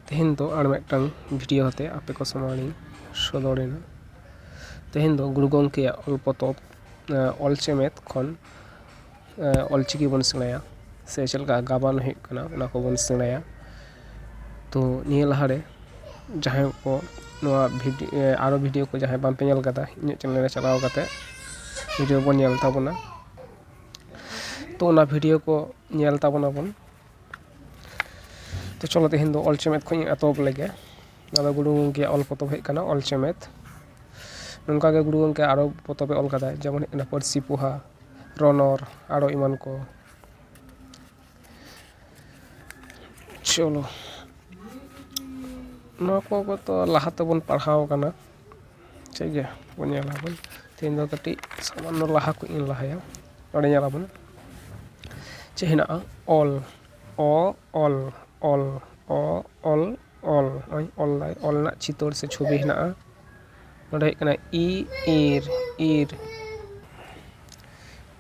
ᱛᱮᱦᱮᱧ ᱫᱚ ᱟᱨ ᱢᱤᱫᱴᱟᱝ ᱵᱷᱤᱰᱤᱭᱳ ᱟᱛᱮ ᱟᱯᱮ ᱠᱚ ᱥᱟᱢᱟᱝ ᱨᱤᱧ ᱥᱚᱫᱚᱨ ᱮᱱᱟ ᱛᱮᱦᱮᱧ ᱫᱚ ᱜᱩᱨᱩ ᱜᱚᱝᱠᱮᱭᱟᱜ ᱚᱞ ᱯᱚᱛᱚᱵ ᱚᱞ ᱪᱮᱢᱮᱫ ᱠᱷᱚᱱ ᱚᱞ ᱪᱤᱠᱤ ᱵᱚᱱ ᱥᱮᱬᱟᱭᱟ ᱥᱮ ᱪᱮᱫ ᱞᱮᱠᱟ ᱜᱟᱵᱟᱱ ᱦᱩᱭᱩᱜ ᱠᱟᱱᱟ ᱚᱱᱟ ᱠᱚᱵᱚᱱ ᱥᱮᱬᱟᱭᱟ ᱛᱚ ᱱᱤᱭᱟᱹ ᱞᱟᱦᱟ ᱨᱮ ᱡᱟᱦᱟᱸᱭ ᱠᱚ ᱱᱚᱣᱟ ᱵᱷᱤᱰᱤ ᱟᱨᱚ ᱵᱷᱤᱰᱤᱭᱳ ᱠᱚ ᱡᱟᱦᱟᱸᱭ ᱵᱟᱝ ᱯᱮ ᱧᱮᱞ ᱠᱟᱫᱟ ᱤᱧᱟᱹᱜ ᱪᱮᱱᱮᱞ ᱨᱮ ᱪᱟᱞᱟᱣ ᱠᱟᱛᱮ ᱵᱷᱤᱰᱤᱭᱳ ᱵᱚᱱ ᱧᱮᱞ ᱛᱟᱵᱚᱱᱟ ᱛᱚ ᱚᱱᱟ ᱵᱷᱤᱰᱭᱳ ᱠᱚ ᱧᱮᱞ ᱛᱟᱵᱚᱱᱟ ᱵᱚᱱ ᱛᱚ ᱪᱚᱞᱚ ᱛᱮᱦᱮᱧ ᱫᱚ ᱚᱞ ᱪᱮᱢᱮᱫ ᱠᱷᱚᱱ ᱤᱧ ᱮᱛᱚᱦᱚᱵ ᱞᱮᱜᱮ ᱱᱚᱣᱟ ᱫᱚ ᱜᱩᱨᱩ ᱜᱚᱢᱠᱮᱭᱟᱜ ᱚᱞ ᱯᱚᱛᱚᱵ ᱦᱩᱭᱩᱜ ᱠᱟᱱᱟ ᱚᱞ ᱪᱮᱢᱮᱫ ᱱᱚᱝᱠᱟ ᱜᱮ ᱜᱩᱨᱩ ᱜᱚᱢᱠᱮ ᱟᱨᱚ ᱯᱚᱛᱚᱵ ᱮ ᱚᱞ ᱠᱟᱫᱟᱭ ᱡᱮᱢᱚᱱ ᱦᱩᱭᱩᱜ ᱠᱟᱱᱟ ᱯᱟᱹᱨᱥᱤ ᱯᱚᱦᱟ ᱨᱚᱱᱚᱲ ᱟᱨᱚ ᱮᱢᱟᱱ ᱠᱚ ᱪᱚᱞᱚ ᱱᱚᱣᱟ ᱠᱚ ᱠᱚᱛᱚ ᱞᱟᱦᱟ ᱛᱮᱵᱚᱱ ᱯᱟᱲᱦᱟᱣ ᱠᱟᱱᱟ ᱴᱷᱤᱠ ᱜᱮᱭᱟ ᱵᱚᱱ ᱧᱮᱞ ᱟᱵᱚᱱ ᱛᱮᱦᱮᱧ ᱫᱚ ᱠᱟᱹᱴᱤᱡ ᱥᱟᱢᱟᱱᱱᱚ ᱞᱟᱦᱟ ᱠᱷᱚᱱ ᱤᱧ ᱞᱟᱦᱟᱭᱟ ᱱᱚᱰᱮ ᱧᱮᱞ ᱟᱵᱚᱱ ᱪᱮᱫ ᱦᱮᱱᱟᱜᱼᱟ ᱚᱞ ᱚ ᱚᱞ ᱚᱞ ᱚ ᱚᱞ ᱚᱞ ᱱᱚᱜᱼᱚᱭ ᱚᱞ ᱫᱟᱭ ᱚᱞ ᱨᱮᱱᱟᱜ ᱪᱤᱛᱟᱹᱨ ᱥᱮ ᱪᱷᱚᱵᱤ ᱦᱮᱱᱟᱜᱼᱟ ᱱᱚᱰᱮ ᱦᱩᱭᱩᱜ ᱠᱟᱱᱟ ᱤ ᱤᱨ ᱤᱨ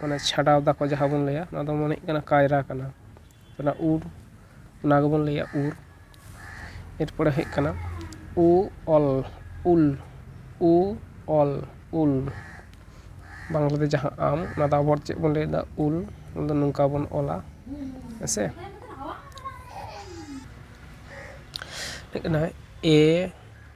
ᱢᱟᱱᱮ ᱪᱷᱟᱰᱟᱣ ᱫᱟᱠᱚ ᱡᱟᱦᱟᱸ ᱵᱚᱱ ᱞᱟᱹᱭᱟ ᱚᱱᱟ ᱫᱚ ᱢᱚᱱᱮ ᱦᱩᱭᱩᱜ ᱠᱟᱱᱟ ᱠᱟᱭᱨᱟ ᱠᱟᱱᱟ ᱚᱱᱟ ᱩᱨ ᱚᱱᱟ ᱜᱮᱵᱚᱱ ᱞᱟᱹᱭᱟ ᱩᱨ ᱮᱨᱯᱚᱨᱮ ᱦᱩᱭᱩᱜ ᱠᱟᱱᱟ ᱩ ᱚᱞ ᱩᱞ ᱩ ᱚᱞ ᱩᱞ ᱵᱟᱝᱞᱟ ᱛᱮ ᱡᱟᱦᱟᱸ ᱟᱢ ᱚᱱᱟ ᱫᱚ ᱟᱵᱚ ᱦᱚᱲ ᱛᱮ ᱪᱮᱫ ᱵᱚᱱ ᱞᱟᱹᱭᱫᱟ ᱩᱞ ᱚᱱᱟ ᱫᱚ ᱱᱚᱝᱠᱟ ᱵᱚᱱ ᱚᱞᱟ ᱦᱮᱸ ᱥᱮ ᱦᱮᱡ ᱠᱟᱱᱟᱭ ᱮ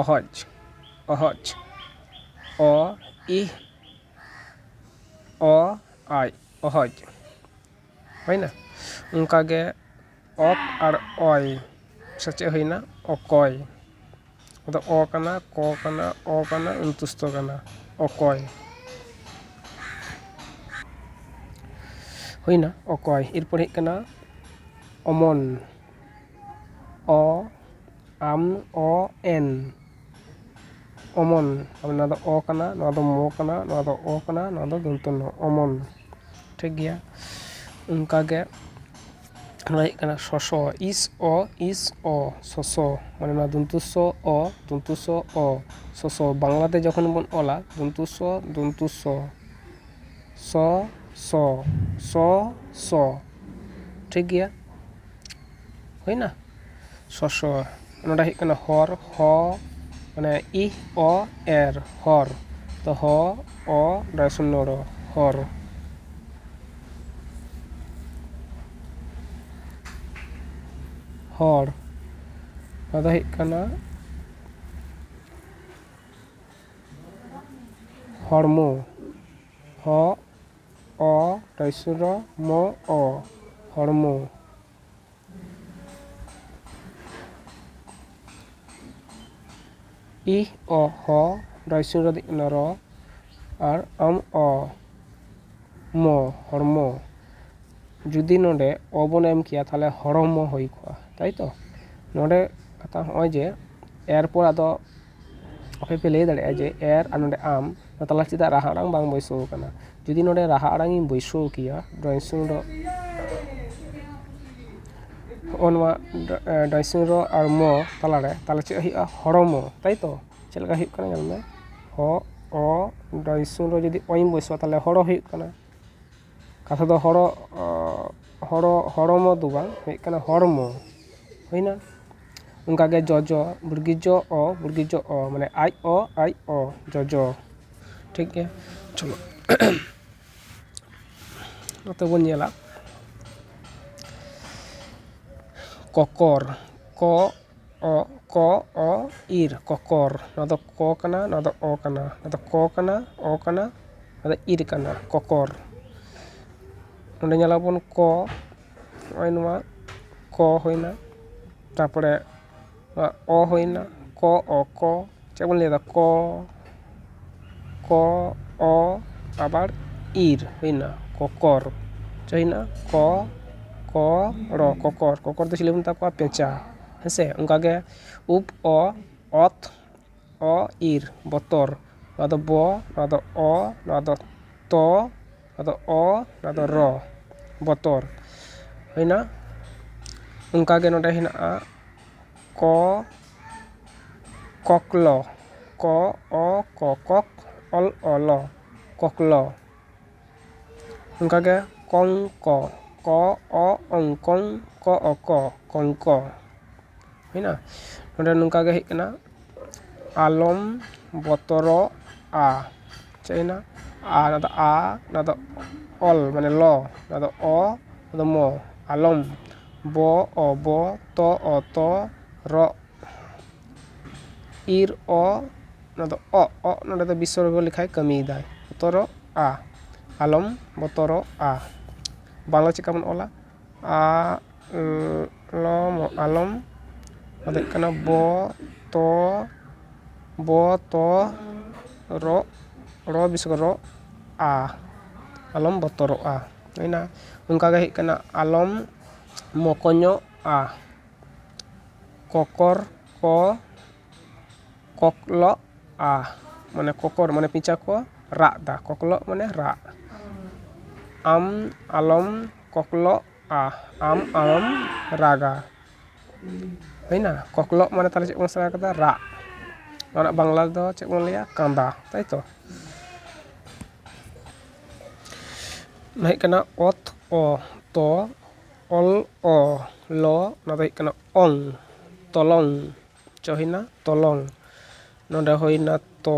ᱚᱦᱚᱡᱽ ᱚᱦᱚᱡᱽ ᱚ ᱤ ᱚ ᱟᱭ ᱚᱦᱚᱡᱽ ᱦᱩᱭᱮᱱᱟ ᱚᱱᱠᱟ ᱜᱮ ᱚᱠ ᱟᱨ ᱚᱭ ᱥᱮᱪᱮᱫ ᱦᱩᱭᱮᱱᱟ ᱚᱠᱚᱭ ᱟᱫᱚ ᱚ ᱠᱟᱱᱟ ᱠᱚ ᱠᱟᱱᱟ ᱚ ᱠᱟᱱᱟ ᱚᱱᱛᱚᱥᱛᱷᱚ ᱠᱟᱱᱟ ᱚᱠᱚᱭ ᱦᱩᱭᱮᱱᱟ ᱚᱠᱚᱭ ᱮᱨᱯᱚᱨ ᱦᱩᱭᱩᱜ ᱠᱟᱱᱟ ᱚᱢᱚᱱ ᱚ ᱟᱢ ᱚ ᱮᱱ ᱚᱢᱚᱱ ᱟᱫᱚ ᱱᱚᱣᱟ ᱫᱚ ᱚ ᱠᱟᱱᱟ ᱱᱚᱣᱟ ᱫᱚ ᱢᱚ ᱠᱟᱱᱟ ᱱᱚᱣᱟ ᱫᱚ ᱚ ᱠᱟᱱᱟ ᱱᱚᱣᱟ ᱫᱚ ᱫᱚᱱᱛᱚ ᱱᱚ ᱚᱢᱚᱱ ᱴᱷᱤᱠ ᱜᱮᱭᱟ ᱚᱱᱠᱟ ᱜᱮ ᱱᱚᱣᱟ ᱦᱩᱭᱩᱜ ᱠᱟᱱᱟ ᱥᱚᱥᱚ ᱤᱥ ᱚ ᱤᱥ ᱚ ᱥᱚᱥᱚ ᱢᱟᱱᱮ ᱱᱚᱣᱟ ᱫᱚᱱᱛᱚ ᱥᱚ ᱚ ᱫᱚᱱᱛᱚ ᱥᱚ ᱚ ᱥᱚᱥᱚ ᱵᱟᱝᱞᱟ ᱛᱮ ᱡᱚᱠᱷᱚᱱ ᱵᱚᱱ ᱚᱞᱟ ᱫᱚᱱᱛᱚ ᱥᱚ ᱫᱚᱱᱛᱚ ᱥᱚ ᱥᱚ ᱥᱚ ᱥᱚ ᱥᱚ ᱴᱷᱤᱠ ᱜᱮᱭᱟ ᱦᱩᱭᱱᱟ ᱥᱚᱥᱚ ᱱᱚᱸᱰᱮ ᱦᱩᱭᱩᱜ ᱠᱟᱱᱟ ᱦᱚᱨ ᱦᱚ ᱢᱟᱱᱮ ᱤ ᱚ ᱮᱨ ᱦᱚᱨ ᱛᱚ ᱦᱚ ᱚ ᱱᱚᱸᱰᱮ ᱥᱩᱱᱱᱚ ᱨᱚ ᱦᱚᱨ ᱦᱚᱲ ᱱᱚᱣᱟ ᱫᱚ ᱦᱩᱭᱩᱜ ᱠᱟᱱᱟ ᱦᱚᱲᱢᱚ ᱦᱚ ᱚ ᱴᱚᱭᱥᱩᱨᱚ ᱢᱚ ᱚ ᱦᱚᱲᱢᱚ᱾ ᱤᱦ ᱚ ᱦᱚ ᱰᱚᱭᱥᱩᱨᱚ ᱫᱤ ᱚᱱᱚ ᱨᱚ ᱟᱨ ᱚᱢ ᱚ ᱢᱚ ᱦᱚᱲᱢᱚ᱾ ᱡᱩᱫᱤ ᱱᱚᱰᱮ ᱚ ᱵᱚᱱ ᱮᱢ ᱠᱮᱭᱟ ᱛᱟᱦᱚᱞᱮ ᱦᱚᱲᱚᱢᱚ ᱦᱩᱭ ᱠᱚᱜᱼᱟ ᱛᱟᱭᱛᱚ᱾ ᱱᱚᱰᱮ ᱠᱟᱛᱷᱟ ᱦᱚᱸᱜᱼᱚᱭ ᱡᱮ ᱮᱨᱯᱚᱨ ᱟᱫᱚ ᱟᱯᱮ ᱯᱮ ᱞᱟᱹᱭ ᱫᱟᱲᱮᱭᱟᱜᱼᱟ ᱡᱮ ᱮᱨ ᱟᱨ ᱱᱚᱸᱰᱮ ᱟᱢ ᱱᱚᱣᱟ ᱛᱟᱞᱟ ᱨᱮ ᱪᱮᱫᱟᱜ ᱨᱟᱦᱟ ᱟᱲᱟᱝ ᱵᱟᱝ ᱵᱟᱹᱭᱥᱟᱹᱣ ᱟᱠᱟᱱᱟ ᱡᱩᱫᱤ ᱱᱚᱸᱰᱮ ᱨᱟᱦᱟ ᱟᱲᱟᱝ ᱤᱧ ᱵᱟᱹᱭᱥᱟᱹᱣ ᱠᱮᱭᱟ ᱰᱨᱚᱭᱤᱝ ᱥᱨᱩᱢ ᱨᱮ ᱦᱚᱸᱜᱼᱚ ᱱᱚᱣᱟ ᱰᱨᱚᱭᱤᱝ ᱥᱨᱩᱢ ᱨᱮ ᱟᱨ ᱢᱚ ᱛᱟᱞᱟ ᱨᱮ ᱛᱟᱦᱚᱞᱮ ᱪᱮᱫ ᱦᱩᱭᱩᱜᱼᱟ ᱦᱚᱲᱢᱚ ᱛᱟᱭ ᱛᱚ ᱪᱮᱫ ᱞᱮᱠᱟ ᱦᱩᱭᱩᱜ ᱠᱟᱱᱟ ᱧᱮᱞ ᱢᱮ ᱦᱚ ᱚ ᱰᱨᱚᱭᱤᱝ ᱥᱨᱩᱢ ᱨᱮ ᱡᱩᱫᱤ ᱚ ᱤᱧ ᱵᱟᱹᱭᱥᱟᱹᱣᱟ ᱛᱟᱦᱚᱞᱮ ᱦᱚᱲᱚ ᱦᱩᱭᱩᱜ ᱠᱟᱱᱟ ᱠᱟᱛᱷᱟ ᱫᱚ ᱦᱚᱲᱚᱜ ᱦᱚᱲᱚ ᱦᱚᱲᱢᱚ ᱫᱚ ᱵᱟᱝ ᱦᱩᱭᱩᱜ ᱠᱟᱱᱟ ᱦᱚᱲᱢᱚ ᱦᱩᱭ ᱮᱱᱟ ᱚᱱᱠᱟ ᱜᱮ ᱡᱚᱡᱚ ᱵᱩᱲᱜᱤ ᱡᱚ ᱚ ᱵᱩᱲᱜᱤ ᱡᱚ ᱚ ᱢᱟᱱᱮ ᱟᱡ ᱚ ᱟᱡ ᱚ ᱡᱚᱡᱚ ᱴᱷᱤᱠ ᱜᱮᱭᱟ ᱪᱚᱞᱚ ᱱᱚᱛᱮ ᱵᱚᱱ ᱧᱮᱞᱟ ᱠᱚᱠᱚᱨ ᱠᱚ ᱚᱜ ᱠᱚ ᱚ ᱤᱨ ᱠᱚᱠᱚᱨ ᱱᱚᱣᱟ ᱫᱚ ᱠᱚ ᱠᱟᱱᱟ ᱱᱚᱣᱟ ᱫᱚ ᱚ ᱠᱟᱱᱟ ᱱᱚᱣᱟ ᱫᱚ ᱠᱚ ᱠᱟᱱᱟ ᱚ ᱠᱟᱱᱟ ᱱᱚᱣᱟ ᱫᱚ ᱤᱨ ᱠᱟᱱᱟ ᱠᱚᱠᱚᱨ ᱱᱚᱸᱰᱮ ᱧᱮᱞᱟᱵᱚᱱ ᱠᱚ ᱱᱚᱜᱼᱚᱭ ᱱᱚᱣᱟ ᱠᱚ ᱦᱩᱭᱱᱟ ᱛᱟᱨᱯᱚᱨᱮ ᱱᱚᱣᱟ ᱚ ᱦᱩᱭᱱᱟ ᱠᱚ ᱚ ᱠᱚ ᱪᱮᱫ ᱵᱚᱱ ᱞᱟᱹᱭᱫᱟ ᱠᱚ ᱠᱚ ᱚ ᱟᱵᱟᱨ ᱤᱨ ᱦᱩᱭᱱᱟ ᱠᱚᱠᱚᱨ ᱪᱮᱫ ᱦᱩᱭᱱᱟ ᱠᱚ ᱠᱚ ᱲᱚ ᱠᱚᱠᱚᱨ ᱠᱚᱠᱚᱨ ᱫᱚ ᱪᱤᱞᱤ ᱵᱚᱱ ᱢᱮᱛᱟ ᱠᱚᱣᱟ ᱯᱮᱸᱪᱟ ᱦᱮᱸ ᱥᱮ ᱚᱱᱠᱟ ᱜᱮ ᱩᱯ ᱚ ᱚᱛ ᱚ ᱤᱨ ᱵᱚᱛᱚᱨ ᱱᱚᱣᱟ ᱫᱚ ᱵᱚ ᱱᱚᱣᱟ ᱫᱚ ᱚ ᱱᱚᱣᱟ ᱫᱚ ᱛᱚ ᱱᱚᱣᱟ ᱫᱚ ᱚ ᱱᱚᱣᱟ ᱫᱚ ᱨᱚ ᱵᱚᱛᱚᱨ ᱦᱩᱭᱱᱟ ᱚᱱᱠᱟ ᱜᱮ ᱱᱚᱸᱰᱮ ᱦᱮᱱᱟᱜᱼᱟ ᱠᱚ ᱠᱚᱠᱞᱚ ᱠᱚ ᱚ ᱠᱚ ᱠᱚᱠ ᱚᱞ ᱚᱞᱚ ᱠᱚᱠᱞᱚ ᱚᱱᱠᱟᱜᱮ ᱠᱚᱝᱠᱚ ᱠᱚ ᱚ ᱚᱝ ᱠᱚᱝ ᱠᱚ ᱚ ᱠᱚ ᱠᱚᱝᱠᱚ ᱦᱩᱭᱱᱟ ᱱᱚᱸᱰᱮ ᱱᱚᱝᱠᱟᱜᱮ ᱦᱮᱡ ᱠᱟᱱᱟ ᱟᱞᱚᱢ ᱵᱚᱛᱚᱨᱚᱜᱼᱟ ᱪᱟᱭᱱᱟ ᱟ ᱚᱱᱟ ᱫᱚ ᱟ ᱚᱱᱟ ᱫᱚ ᱚᱞ ᱢᱟᱱᱮ ᱞᱚ ᱚᱱᱟ ᱫᱚ ᱚ ᱚᱱᱟ ᱫᱚ ᱢᱚ ᱟᱞᱚᱢ ᱵᱚ ᱚ ᱵᱚ ᱛᱚ ᱚ ᱛᱚ ᱨᱚᱜ ᱤᱨ ᱚ ᱚᱱᱟ ᱫᱚ ᱚᱜ ᱚᱜ ᱱᱚᱸᱰᱮ ᱫᱚ ᱵᱤᱥᱚᱨᱜᱚ ᱞᱮᱠᱟᱭ ᱠᱟᱹᱢᱤᱭᱮᱫᱟᱭ ᱵᱚᱛᱚᱨᱚᱜᱼᱟ ᱟᱞᱚᱢ ᱵᱚᱛᱚᱨᱚᱜᱼᱟ ᱵᱟᱝᱞᱟ ᱪᱮᱫᱠᱟ ᱵᱚᱱ ᱚᱞᱟ ᱟᱜ ᱞᱚᱢ ᱟᱞᱚᱢ ᱚᱱᱟ ᱫᱚ ᱦᱩᱭᱩᱜ ᱠᱟᱱᱟ ᱵᱚ ᱛᱚ ᱵᱚ ᱛᱚ ᱨᱚᱜ ᱨᱚ ᱵᱤᱥᱚᱨᱜᱚ ᱨᱮ ᱨᱚᱜ ᱟ ᱟᱞᱚᱢ ᱵᱚᱛᱚᱨᱚᱜᱼᱟ ᱦᱩᱭᱱᱟ ᱚᱱᱠᱟ ᱜᱮ ᱦᱩᱭᱩᱜ ᱠᱟᱱᱟ ᱟᱞᱚᱢ ᱢᱚᱠᱚᱧᱚᱜᱼᱟ ᱠᱚᱠᱚᱨ ᱠᱚ ᱠᱚᱠᱞᱚᱜᱼᱟ ᱢᱟᱱᱮ ᱠᱚᱠᱚᱨ ᱢᱟᱱᱮ ᱯᱮᱪᱟ ᱠᱚ ᱨᱟᱜ ᱫᱟ ᱠᱚᱠᱞᱚᱜ ᱢᱟᱱᱮ ᱨᱟᱜ ᱟᱢ ᱟᱞᱚᱢ ᱠᱚᱠᱞᱚᱜᱼᱟ ᱟᱢ ᱟᱢᱮᱢ ᱨᱟᱜᱟ ᱦᱩᱭᱱᱟ ᱠᱚᱠᱞᱚᱜ ᱢᱟᱱᱮ ᱛᱟᱦᱚᱞᱮ ᱪᱮᱫ ᱵᱚᱱ ᱥᱮᱬᱟ ᱠᱮᱫᱟ ᱨᱟᱜ ᱱᱚᱣᱟ ᱨᱮᱱᱟᱜ ᱵᱟᱝᱞᱟ ᱫᱚ ᱪᱮᱫ ᱵᱚᱱ ᱞᱟᱹᱭᱟ ᱠᱟᱸᱫᱟ ᱛᱟᱭ ᱛᱚ ᱚᱱᱟ ᱦᱩᱭᱩᱜ ᱠᱟᱱᱟ ᱚᱛ ᱚ ᱛᱚ ᱚᱞ ᱚ ᱞᱚ ᱚᱱᱟ ᱫᱚ ᱦᱩᱭᱩᱜ ᱠᱟᱱᱟ ᱚᱝ ᱛᱚᱞᱚᱝ ᱪᱚ ᱦᱩᱭᱱᱟ ᱛᱚᱞᱚᱝ ᱱᱚᱰᱮ ᱦᱩᱭᱱᱟ ᱛᱚ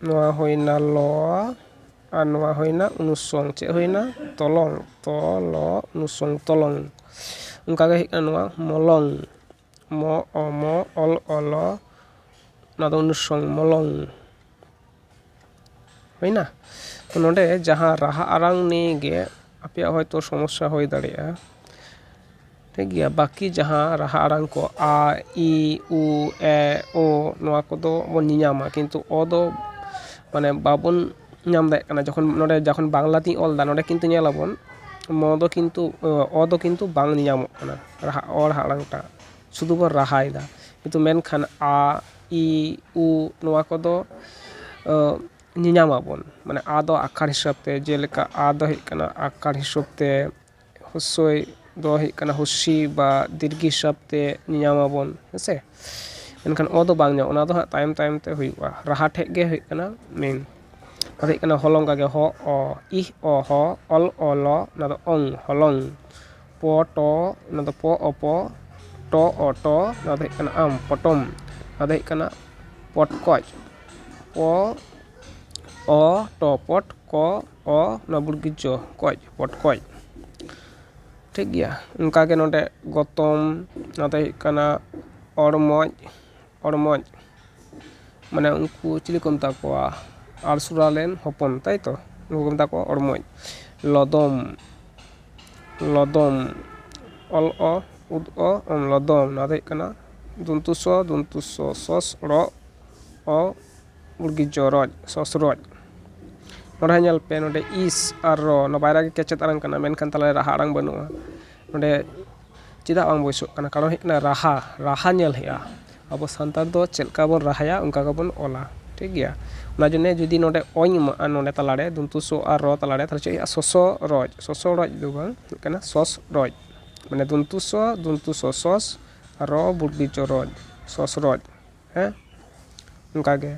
ᱱᱚᱣᱟ ᱦᱩᱭᱱᱟ ᱞᱚ ᱟᱨ ᱱᱚᱣᱟ ᱦᱩᱭᱱᱟ ᱚᱱᱩᱥᱚᱝ ᱪᱮᱫ ᱦᱩᱭᱱᱟ ᱛᱚᱞᱚᱝ ᱛᱚ ᱞᱚ ᱚᱱᱩᱥᱚᱝ ᱛᱚᱞᱚᱝ ᱚᱱᱠᱟᱜᱮ ᱦᱮᱡ ᱮᱱᱟ ᱱᱚᱣᱟ ᱢᱚᱞᱚᱝ ᱢᱚ ᱚ ᱢᱚ ᱚᱞ ᱚ ᱞᱚ ᱱᱚᱣᱟ ᱫᱚ ᱚᱱᱩᱥᱚᱝ ᱢᱚᱞᱚᱝ ᱦᱩᱭᱱᱟ ᱛᱚ ᱱᱚᱰᱮ ᱡᱟᱦᱟᱸ ᱨᱟᱦᱟ ᱟᱲᱟᱝ ᱱᱤᱭᱮ ᱜᱮ ᱟᱯᱮᱭᱟᱜ ᱦᱚᱭᱛᱳ ᱥᱚᱢᱚᱥᱥᱟ ᱦᱩᱭ ᱫᱟᱲᱮᱭᱟᱜᱼᱟ ᱴᱷᱤᱠ ᱜᱮᱭᱟ ᱵᱟᱹᱠᱤ ᱡᱟᱦᱟᱸ ᱨᱟᱦᱟ ᱟᱲᱟᱝ ᱠᱚ ᱟ ᱤ ᱩ ᱮ ᱳ ᱱᱚᱣᱟ ᱠᱚᱫᱚ ᱵᱚᱱ ᱧᱮᱧᱟᱢᱟ ᱠᱤᱱᱛᱩ ᱚ ᱫᱚ ᱢᱟᱱᱮ ᱵᱟᱵᱚᱱ ᱧᱟᱢ ᱫᱟᱲᱮᱭᱟᱜ ᱠᱟᱱᱟ ᱡᱚᱠᱷᱚᱱ ᱱᱚᱸᱰᱮ ᱡᱚᱠᱷᱚᱱ ᱵᱟᱝᱞᱟ ᱛᱤᱧ ᱚᱞᱫᱟ ᱱᱚᱸᱰᱮ ᱠᱤᱱᱛᱩ ᱧᱮᱞᱟᱵᱚᱱ ᱢᱚ ᱫᱚ ᱠᱤᱱᱛᱩ ᱚ ᱫᱚ ᱠᱤᱱᱛᱩ ᱵᱟᱝ ᱧᱮᱧᱟᱢᱚᱜ ᱠᱟᱱᱟ ᱨᱟᱦᱟ ᱚ ᱨᱟᱦᱟ ᱟᱲᱟᱝ ᱴᱟᱜ ᱥᱩᱫᱩ ᱵᱚᱱ ᱨᱟᱦᱟᱭᱮᱫᱟ ᱠᱤᱱᱛᱩ ᱢᱮᱱᱠᱷᱟᱱ ᱟ ᱤ ᱩ ᱱᱚᱣᱟ ᱠᱚᱫᱚ ᱧᱮᱧᱟᱢᱟᱵᱚᱱ ᱢᱟᱱᱮ ᱟ ᱫᱚ ᱟᱠᱷᱟᱨ ᱦᱤᱥᱟᱹᱵᱽ ᱛᱮ ᱡᱮᱞᱮᱠᱟ ᱟ ᱫᱚ ᱦᱩᱭᱩᱜ ᱠᱟᱱᱟ ᱟᱠᱷᱟᱨ ᱦᱤᱥᱟᱹᱵᱽ ᱛᱮ ᱦᱩᱥᱥᱳᱭ ᱫᱚ ᱦᱩᱭᱩᱜ ᱠᱟᱱᱟ ᱦᱩᱥᱥᱤ ᱵᱟ ᱫᱤᱨᱜᱷᱤ ᱦᱤᱥᱟᱹᱵ ᱛᱮ ᱧᱮᱧᱟᱢ ᱟᱵᱚᱱ ᱦᱮᱸ ᱥᱮ ᱢᱮᱱᱠᱷᱟᱱ ᱚ ᱫᱚ ᱵᱟᱝ ᱧᱟᱢᱚᱜᱼᱟ ᱚᱱᱟ ᱫᱚ ᱦᱟᱸᱜ ᱛᱟᱭᱚᱢ ᱛᱟᱭᱚᱢ ᱛᱮ ᱦᱩᱭᱩᱜᱼᱟ ᱨᱟᱦᱟ ᱴᱷᱮᱡ ᱜᱮ ᱦᱩᱭᱩᱜ ᱠᱟᱱᱟ ᱢᱮᱱ ᱟᱫᱚ ᱦᱩᱭᱩᱜ ᱠᱟᱱᱟ ᱦᱚᱞᱚᱝ ᱚᱱᱠᱟ ᱜᱮ ᱦᱚ ᱚ ᱤᱦ ᱚ ᱦᱚ ᱚᱞ ᱚ ᱞ ᱚᱱᱟ ᱫᱚ ᱚᱝ ᱦᱚᱞᱚᱝ ᱯᱚ ᱴᱚ ᱚᱱᱟ ᱫᱚ ᱯᱚ ᱚ ᱯᱚ ᱴᱚ ᱚ ᱴᱚ ᱚᱱᱟ ᱫᱚ ᱦᱩᱭᱩᱜ ᱠᱟᱱᱟ ᱟᱢ ᱯᱚᱴᱚᱢ ᱚᱱᱟ ᱫᱚ ᱦᱩᱭᱩᱜ ᱠᱟᱱᱟ ᱯᱚᱴᱠᱚᱡ ᱯᱚ ᱚ ᱴᱚ ᱯᱚᱴ ᱠᱚ ᱚ ᱱᱚᱣᱟ ᱵᱩᱲᱠᱤ ᱪᱚ ᱠᱚᱡ ᱯᱚᱴᱠᱚᱡ ᱴᱷᱤᱠ ᱜᱮᱭᱟ ᱚᱱᱠᱟ ᱜᱮ ᱱᱚᱰᱮ ᱜᱚᱛᱚᱢ ᱱᱚᱣᱟ ᱫᱚ ᱦᱩᱭᱩᱜ ᱠᱟᱱᱟ ᱚᱲᱢᱚᱡ ᱚᱲᱢᱚᱡ ᱢᱟᱱᱮ ᱩᱱᱠᱩ ᱪᱤᱞᱤ ᱠᱚ ᱢᱮᱛᱟ ᱠᱚᱣᱟ ᱟᱲᱥᱩᱨᱟ ᱨᱮᱱ ᱦᱚᱯᱚᱱ ᱛᱟᱭ ᱛᱚ ᱩᱱᱠᱩ ᱠᱚ ᱢᱮᱛᱟ ᱠᱚᱣᱟ ᱚᱲᱢᱚᱡ ᱞᱚᱫᱚᱢ ᱞᱚᱫᱚᱢ ᱚᱞ ᱚ ᱩᱫ ᱚ ᱞᱚᱫᱚᱢ ᱱᱚᱣᱟ ᱫᱚ ᱦᱩᱭᱩᱜ ᱠᱟᱱᱟ ᱫᱚᱱᱛᱚ ᱥᱚ ᱫᱚᱱᱛᱚ ᱥᱚ ᱥᱚᱥ ᱲᱚᱜ ᱚ ᱢᱩᱨᱜᱤ ᱪᱚᱨᱚᱡ ᱥᱚᱥᱨᱚᱡ ᱱᱚᱸᱰᱮ ᱦᱟᱸᱜ ᱧᱮᱞ ᱯᱮ ᱱᱚᱸᱰᱮ ᱤᱥ ᱟᱨ ᱨᱚ ᱱᱚᱣᱟ ᱵᱟᱨᱭᱟ ᱜᱮ ᱠᱮᱪᱮᱫ ᱟᱲᱟᱝ ᱠᱟᱱᱟ ᱢᱮᱱᱠᱷᱟᱱ ᱛᱟᱞᱟ ᱨᱮ ᱨᱟᱦᱟ ᱟᱲᱟᱝ ᱵᱟᱹᱱᱩᱜᱼᱟ ᱱᱚᱸᱰᱮ ᱪᱮᱫᱟᱜ ᱵᱟᱝ ᱵᱟᱹᱭᱥᱟᱹᱜ ᱠᱟᱱᱟ ᱠᱟᱨᱚᱱ ᱦᱩᱭᱩᱜ ᱠᱟᱱᱟ ᱨᱟᱦᱟ ᱨᱟᱦᱟ ᱧᱮᱞ ᱦᱩᱭᱩᱜᱼᱟ ᱟᱵᱚ ᱥᱟᱱᱛᱟᱲ ᱫᱚ ᱪᱮᱫ ᱞᱮᱠᱟ ᱵᱚᱱ ᱨᱟᱦᱟᱭᱟ ᱚᱱᱠᱟ ᱜᱮᱵᱚᱱ ᱚᱞᱟ ᱴᱷᱤᱠ ᱜᱮᱭᱟ ᱚᱱᱟ ᱡᱚᱱᱱᱮ ᱡᱩᱫᱤ ᱱᱚᱸᱰᱮ ᱚᱧ ᱮᱢᱟᱜᱼᱟ ᱱᱚᱸᱰᱮ ᱛᱟᱞᱟ ᱨᱮ ᱫᱚᱱᱛᱚ ᱥᱚ ᱟᱨ ᱨᱚ ᱛᱟᱞᱟ ᱨᱮ ᱛᱟᱦᱚᱞᱮ ᱪᱮᱫ ᱦᱩᱭᱩᱜᱼᱟ ᱥᱚᱥᱚᱨᱚᱡ ᱥᱚᱥᱚᱨᱚᱡ ᱫᱚ ᱵᱟᱝ ᱦᱩᱭᱩᱜ ᱠᱟᱱᱟ ᱥᱚᱥᱨᱚᱡ ᱢᱟᱱᱮ ᱫᱚᱱᱛᱚ ᱥᱚ ᱫᱚᱱᱛᱚ ᱥᱚ ᱥᱚᱥ ᱨᱚ ᱵᱩᱨᱜᱤ ᱪᱚ ᱨᱚᱡ ᱥᱚᱥᱨᱚᱡ ᱦᱮᱸ ᱚᱱᱠᱟ ᱜᱮ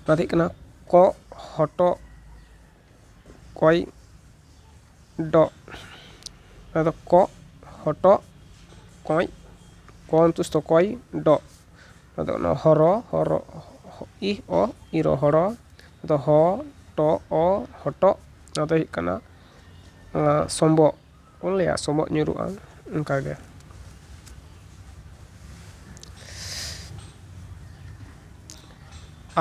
ᱱᱚᱣᱟ ᱫᱚ ᱦᱩᱭᱩᱜ ᱠᱟᱱᱟ ᱠᱚᱜ ᱦᱚᱴᱚᱜ ᱠᱚᱭ ᱰᱚᱜ ᱱᱚᱣᱟ ᱫᱚ ᱠᱚᱜ ᱦᱚᱴᱚᱜ ᱠᱚᱸᱭ ᱠᱚ ᱚᱱᱛᱚᱥᱛᱚ ᱠᱚᱭ ᱰᱚᱜ ᱱᱚᱣᱟ ᱫᱚ ᱚᱱᱟ ᱦᱚᱨᱚ ᱦᱚᱨᱚ ᱤᱦ ᱚ ᱤᱨᱚ ᱦᱚᱨᱚ ᱫᱚ ᱦᱚ ᱴᱚ ᱚ ᱦᱚᱴᱚᱜ ᱱᱚᱣᱟ ᱫᱚ ᱦᱩᱭᱩᱜ ᱠᱟᱱᱟ ᱥᱚᱢᱵᱚᱜ ᱵᱚᱱ ᱞᱟᱹᱭᱟ ᱥᱚᱵᱚᱜ ᱧᱩᱨᱩᱜᱼᱟ ᱚᱱᱠᱟᱜᱮ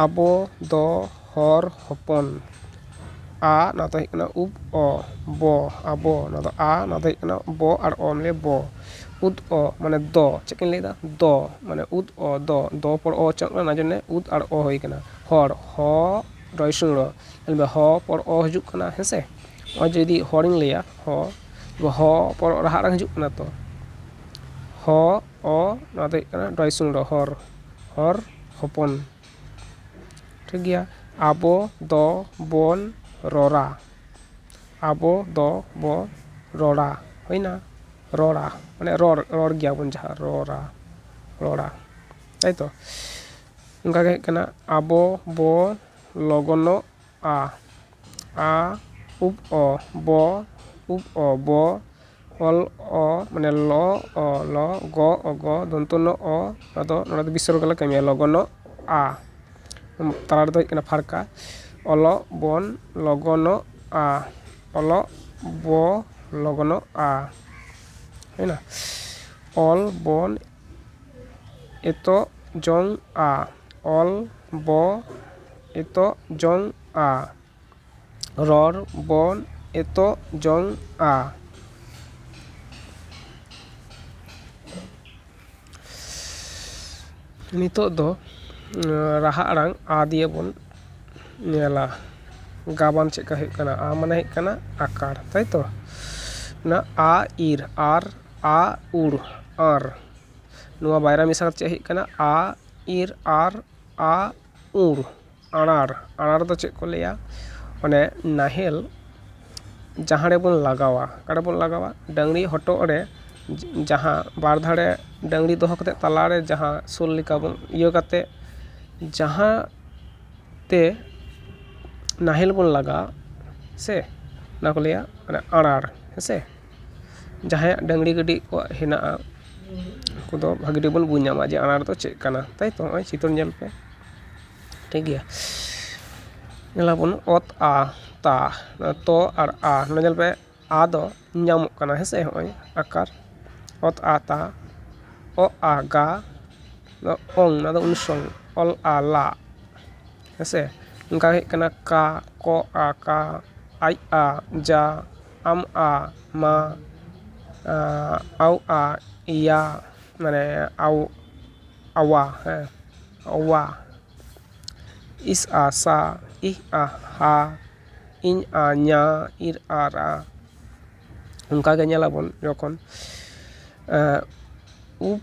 ᱟᱵᱚ ᱫᱚ ᱦᱚᱲ ᱦᱚᱯᱚᱱ ᱟ ᱱᱚᱣᱟ ᱫᱚ ᱦᱩᱭᱩᱜ ᱠᱟᱱᱟ ᱩᱯ ᱚ ᱵᱚ ᱟᱵᱚ ᱱᱚᱣᱟ ᱫᱚ ᱟ ᱱᱚᱣᱟ ᱫᱚ ᱦᱩᱭᱩᱜ ᱠᱟᱱᱟ ᱵᱚ ᱟᱨ ᱚ ᱢᱤᱞᱮ ᱵᱚ ᱩᱫ ᱚ ᱢᱟᱱᱮ ᱫᱚ ᱪᱮᱫ ᱠᱟᱹᱧ ᱞᱟᱹᱭᱫᱟ ᱫᱚ ᱢᱟᱱᱮ ᱩᱫ ᱚ ᱫᱚ ᱫᱚ ᱯᱚᱨ ᱚ ᱩᱪᱪᱟᱨᱚᱱᱚᱜ ᱠᱟᱱᱟ ᱚᱱᱟ ᱡᱚᱱᱱᱮ ᱩᱫ ᱟᱨ ᱚ ᱦᱩᱭ ᱠᱟᱱᱟ ᱦᱚᱲ ᱦᱚ ᱨᱚᱭ ᱥᱩᱨ ᱨᱚ ᱧᱮᱞ ᱢᱮ ᱦᱚ ᱯᱚᱨ ᱚ ᱦᱤᱡᱩᱜ ᱠᱟᱱᱟ ᱦᱮᱸ ᱥᱮ ᱱᱚᱜᱼᱚᱭ ᱡᱮ ᱡᱩᱫᱤ ᱦᱚᱲᱤᱧ ᱞᱟᱹᱭᱟ ᱦᱚ ᱦᱚ ᱯᱚᱨ ᱚ ᱨᱟᱦᱟ ᱟᱲᱟᱝ ᱦᱤᱡᱩᱜ ᱠᱟᱱᱟ ᱛᱚ ᱦᱚ ᱚ ᱱᱚᱣᱟ ᱫᱚ ᱦᱩᱭᱩᱜ ᱠᱟᱱᱟ ᱨᱚᱭ ᱥᱩᱨ ᱨᱚ ᱦᱚᱨ ᱦᱚᱨ ᱦᱚᱯᱚᱱ ᱴᱷᱤᱠ ᱜᱮᱭᱟ ᱟᱵᱚ ᱫᱚ ᱵᱚᱱ ᱨᱚᱲᱟ ᱟᱵᱚ ᱫᱚ ᱵᱚ ᱨᱚᱲᱟ ᱦᱩᱭᱱᱟ ᱨᱚᱲᱟ ᱢᱟᱱᱮ ᱨᱚᱲ ᱨᱚᱲ ᱜᱮᱭᱟᱵᱚᱱ ᱡᱟᱦᱟᱸ ᱨᱚᱲᱟ ᱨᱚᱲᱟ ᱛᱟᱭᱛᱚ ᱚᱱᱠᱟ ᱜᱮ ᱦᱩᱭᱩᱜ ᱠᱟᱱᱟ ᱟᱵᱚ ᱵᱚ ᱞᱚᱜᱚᱱᱚᱜᱼᱟ ᱟ ᱩᱵ ᱚ ᱵᱚ ᱩᱵ ᱚ ᱵᱚ ᱚᱞ ᱚ ᱢᱟᱱᱮ ᱞᱚ ᱚ ᱞᱚ ᱜᱚ ᱚ ᱜᱚ ᱫᱚᱱᱛᱚ ᱱᱚ ᱚ ᱟᱫᱚ ᱱᱚᱰᱮ ᱫᱚ ᱵᱤᱥᱚᱨᱜᱚ ᱞᱮ ᱠᱟᱹᱢᱤᱭᱟ ᱞᱚᱜᱚᱱᱚᱜ ᱟ ᱛᱟᱞᱟ ᱨᱮᱫᱚ ᱦᱩᱭᱩᱜ ᱠᱟᱱᱟ ᱯᱷᱟᱨᱠᱟ ᱚᱞᱚᱜ ᱵᱚᱱ ᱞᱚᱜᱚᱱᱚᱜᱼᱟ ᱚᱞᱚᱜ ᱵᱚ ᱞᱚᱜᱚᱱᱚᱜᱼᱟ ᱦᱩᱭᱱᱟ ᱚᱞ ᱵᱚᱱ ᱮᱛᱚᱜ ᱡᱚᱝᱼᱟ ᱚᱞ ᱵᱚ ᱮᱛᱚᱜ ᱡᱚᱝᱼᱟ ᱨᱚᱲ ᱵᱚᱱ ᱮᱛᱚᱜ ᱡᱚᱝᱼᱟ ᱱᱤᱛᱚᱜ ᱫᱚ ᱨᱟᱦᱟ ᱟᱲᱟᱝ ᱟ ᱫᱤᱭᱮ ᱵᱚᱱ ᱧᱮᱞᱟ ᱜᱟᱵᱟᱱ ᱪᱮᱫ ᱞᱮᱠᱟ ᱦᱩᱭᱩᱜ ᱠᱟᱱᱟ ᱟ ᱢᱟᱱᱮ ᱦᱩᱭᱩᱜ ᱠᱟᱱᱟ ᱟᱠᱟᱨ ᱛᱟᱭᱛᱚ ᱚᱱᱟ ᱟ ᱤᱨ ᱟᱨ ᱟ ᱩᱨ ᱟᱨ ᱱᱚᱣᱟ ᱵᱟᱭᱨᱟ ᱢᱮᱥᱟ ᱠᱟᱛᱮᱫ ᱪᱮᱫ ᱦᱩᱭᱩᱜ ᱠᱟᱱᱟ ᱟ ᱤᱨ ᱟᱨ ᱟ ᱩᱨ ᱟᱬᱟᱨ ᱟᱬᱟᱨ ᱫᱚ ᱪᱮᱫ ᱠᱚ ᱞᱟᱹᱭᱟ ᱢᱟᱱᱮ ᱱᱟᱦᱮᱞ ᱡᱟᱦᱟᱸ ᱨᱮᱵᱚᱱ ᱞᱟᱜᱟᱣᱟ ᱚᱠᱟ ᱨᱮᱵᱚᱱ ᱞᱟᱜᱟᱣᱟ ᱰᱟᱹᱝᱨᱤ ᱦᱚᱴᱚᱜ ᱨᱮ ᱡᱟᱦᱟᱸ ᱵᱟᱨ ᱫᱷᱟᱨᱮ ᱰᱟᱹᱝᱨᱤ ᱫᱚᱦᱚ ᱠᱟᱛᱮᱫ ᱛᱟᱞᱟ ᱨᱮ ᱡᱟᱦᱟᱸ ᱥᱳᱞ ᱞᱮᱠᱟ ᱵᱚᱱ ᱤᱭᱟᱹ ᱠᱟᱛᱮᱫ ᱡᱟᱦᱟᱸ ᱛᱮ ᱱᱟᱦᱮᱞ ᱵᱚᱱ ᱞᱟᱜᱟᱣ ᱥᱮ ᱚᱱᱟ ᱠᱚ ᱞᱟᱹᱭᱟ ᱚᱱᱟ ᱟᱬᱟᱨ ᱦᱮᱸᱥᱮ ᱡᱟᱦᱟᱸᱭᱟᱜ ᱰᱟᱹᱝᱨᱤ ᱠᱟᱹᱰᱤ ᱠᱚᱣᱟᱜ ᱦᱮᱱᱟᱜᱼᱟ ᱩᱱᱠᱩ ᱫᱚ ᱵᱷᱟᱹᱜᱤ ᱴᱷᱤᱠ ᱵᱚᱱ ᱵᱩᱡᱽ ᱧᱟᱢᱟ ᱡᱮ ᱟᱬᱟᱨ ᱫᱚ ᱪᱮᱫ ᱠᱟᱱᱟ ᱛᱟᱭ ᱛᱚ ᱱᱚᱜᱼᱚᱭ ᱪᱤᱛᱟᱹᱨ ᱧᱮᱞ ᱯᱮ ᱴᱷᱤᱠ ᱜᱮᱭᱟ ᱧᱮᱞ ᱟᱵᱚᱱ ᱚᱛ ᱟ ᱛᱟ ᱛᱚ ᱟᱨ ᱟ ᱱᱚᱰᱮ ᱧᱮᱞ ᱯᱮ ᱟ ᱫᱚ ᱧᱟᱢᱚᱜ ᱠᱟᱱᱟ ᱦᱮᱸᱥᱮ ᱱᱚᱜᱼᱚᱭ ᱟᱠᱟᱨ ᱚᱛ ᱟ ᱛᱟ ᱚ ᱟ ᱜᱟ ᱱᱚᱣᱟ ᱚᱝ ᱱᱚᱣᱟ ᱫᱚ ᱚᱱᱩᱥᱚᱝ ᱚᱞ ᱟ ᱞᱟ ᱦᱮᱸᱥᱮ ᱚᱱᱠᱟ ᱦᱮᱡ ᱠᱟᱱᱟ ᱠᱟ ᱠᱚ ᱟ ᱠᱟ ᱟᱡ ᱟ ᱡᱟ ᱟᱢ ᱟᱜ ᱢᱟ ᱟᱣ ᱟᱜ ᱤᱭᱟ ᱢᱟᱱᱮ ᱟᱣ ᱟᱣᱟ ᱦᱮᱸ ᱚᱣᱟ ᱤᱥ ᱟ ᱥᱟ ᱤᱦ ᱟ ᱦᱟ ᱤᱧ ᱟ ᱧᱟ ᱤᱨ ᱟ ᱨᱟ ᱚᱱᱠᱟ ᱜᱮ ᱧᱮᱞ ᱟᱵᱚᱱ ᱡᱚᱠᱷᱚᱱ ᱩᱯ